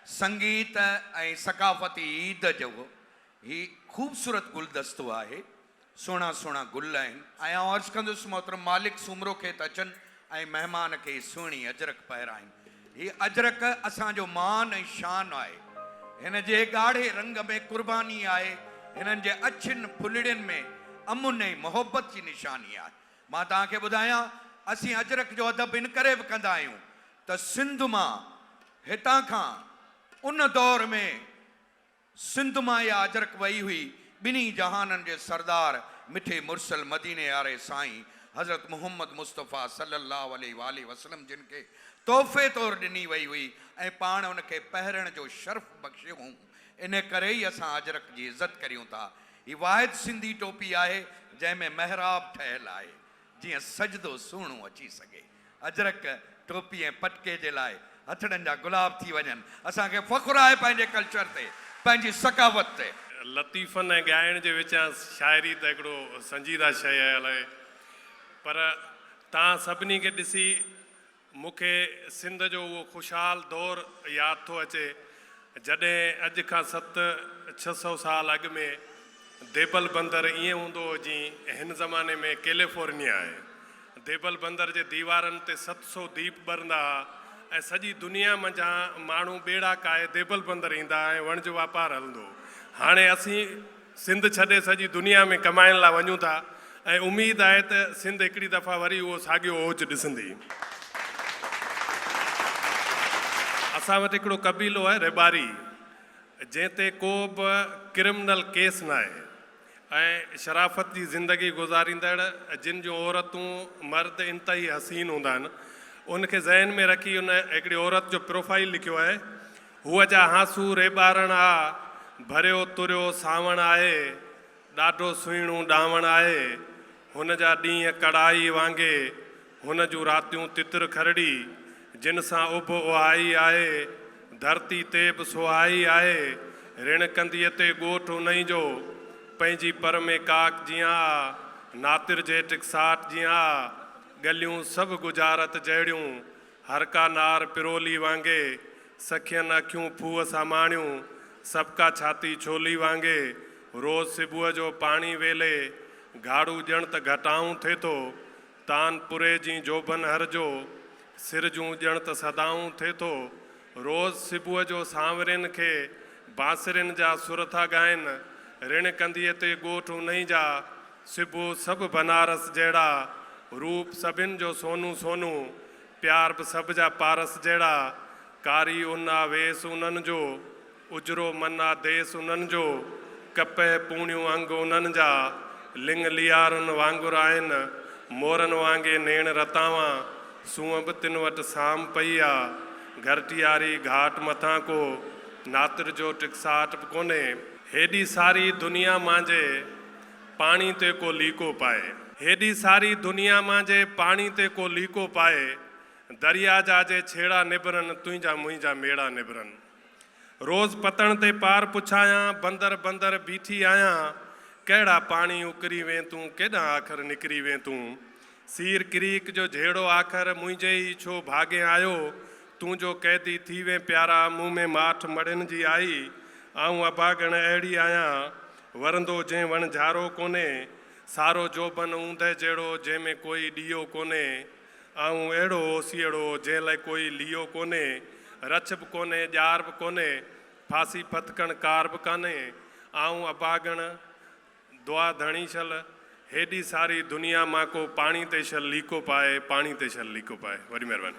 سنگيت ۽ ثقافتي عيد جو هي خوبصورت گلدستو آهي. سهڻا سهڻا گل آهن. آئون عرض ڪندس محترم مالڪ سومرو کي ته اچن ۽ مهمان کي سهڻي اجرڪ پهرائين. هي اجرڪ اسان جو مان ۽ شان آهي. هن جي ڳاڙهي رنگ ۾ قرباني آهي. هنن جي اڇين ڦلڙين ۾ امن ۽ محبت جي نشاني آهي. مان توهان کي ٻڌايان، اسين اجرڪ جو ادب ان ڪري به ڪندا آهيون ته سنڌ مان هتان کان ان دور ۾ سنڌ مان يا اجرڪ وئي هئي، ٻنهي جهانن جي سردار مٺي مرسل مديني واري سائين حضرت محمد مصطفيٰ صلّي الله عليه واٰله وسلّم جن کي تحفي طور ڏني وئي هئي ۽ پاڻ ان کي پهرڻ جو شرف بخشيو هئون. ان ڪري ئي اسان اجرڪ جي عزت ڪريون ٿا. هي واحد سنڌي ٽوپي آهي، جنهن ۾ محراب ٺهيل آهي، جيئن سجدو سهڻو اچي سگهي. اجرڪ، ٽوپي ۽ پٽڪي جي لاء هٿڙن جا گلاب ٿي وڃن. اسان کي فخر آهي پنهنجي ڪلچر تي، پنهنجي ثقافت تي. لطيفن ۽ ڳائڻ جي وچان شاعري ته هڪڙو سنجيده شيء آهي الائي پر توهان سڀني کي ڏسي مون کي سنڌ جو اهو خوشحال دور ياد ٿو اچي، جڏهن اڄ کان ست ڇهه سؤ سال اڳ ۾ ديبل بندر ائين هوندو هو جيئن هن زماني ۾ ڪيليفورنيا آهي. ديبل بندر جي ديوارن تي ست سؤ ديپ ٻرندا ها ۽ سڄي دنيا منجهان ماڻهو ٻيڙا ڪاهي ديبل بندر ايندا ها ۽ وڻج واپار هلندو هو. هاڻي اسين. سنڌ ڇڏي سڄي دنيا ۾ ڪمائڻ لا وڃون ٿا ۽ اميد آهي ته سنڌ هڪڙي دفعا وري اهو ساڳيو اوج ڏسندي. اسان وٽ هڪڙو قبيلو آهي ريٻاري جنهن تي ڪو به ڪرمنل ڪيس ناهي ۽ شرافت جي زندگي گذاريندڙ جن جون عورتون مرد انتهائي حسين هوندا آهن ان کي ذهن ۾ رکي ان هڪڙي عورت جو پروفائيل لکيو آهي. هوء جا هانسو ريٻارڻ آ، ڀريو تريو سانوڻ آهي، ڏاڍو سهڻو ڏانوڻ آهي، هن جا ڏينهن ڪڙائي وانگي، هن جون راتيون تتر کرڙي، جن سان اڀ اهائي آهي، ڌرتي تي به سهائي آهي، رڻ ڪنڌيء تي ڳوٺ انهي جو، پنهنجي پر ۾ ڪاڪ جيان آ، ناتر جهٽڪ ساٽ جيان آ، ڳليون سڀ ڳجهارت جهڙيون، هر ڪا نار پرولي وانگي، سکين اکيون ڦوهه ساماڻيون، سڀ ڪا ڇاتي ڇولي وانگي، روز صبح جو پاڻي ويلي، گهاڙو ڄڻ ته گهٽائون ٿئي ٿو، تان پوري جين جوڀن هر جو، سر جون ڄڻ ته صدائون ٿئي ٿو، روز صبح جو سانورين کي، بانسرين جا سر ٿا ڳائن، رڻ ڪنڌيء تي ڳوٺ انهي جا، سبو سڀ بنارس جهڙا، روپ سڀن جو سونو سونو، پيار به سڀ جا پارس جهڙا، ڪاري ان آ ويس انهن جو، اجرو من آ ديس انهن جو، ڪپهه پوڻيون انگ انهن جا، لڱ ليارن وانگر آهن، مورن وانگي نيڻ رتاوان، سونهن به تن وٽ سام پئي آ، گهرٽياري گهاٽ مٿان ڪو، ناتر جو ٽڪساٽ به ڪونهي. هيڏي ساري دنيا مانجهي، پاڻي تي ڪو ليڪو پائي. هيڏي ساري دنيا مان جي پاڻي تي ڪو ليڪو پائي دريا جا جي ڇيڙا نبرن تنهنجا منهنجا ميڙا نبرن روز پتڻ تي پار پڇايان بندر بندر بيٺي آهيان ڪهڙا پاڻي اڪري وين تون ڪيڏانهن آخر نڪري وين تون سير ڪريڪ جو جهيڙو آخر منهنجي ئي ڇو ڀاڳين آيو تون جو قيدي ٿي وين پيارا مون ۾ ماٺ مڙهين جي آئي آئون اڀاڳڻ اهڙي آهيان ورندو جنهن وڻ جهارو ڪونهي سارو جوڀن اوندهه جهڙو جنهن ۾ ڪوئي ڏيئو ڪونهي آئون اهڙو اوسيئڙو جنهن لئه ڪوئي ليئو ڪونهي رڇ به ڪونهي ڄار به ڪونهي ڦاسي ڦٿڪڻ ڪار به ڪانهي آئون اڀاڳڻ دعا ڌڻي شل، هيڏي ساري دنيا مان ڪو پاڻي تي شل ليڪو پائي، پاڻي تي شل ليڪو پائي. وڏي مهرباني.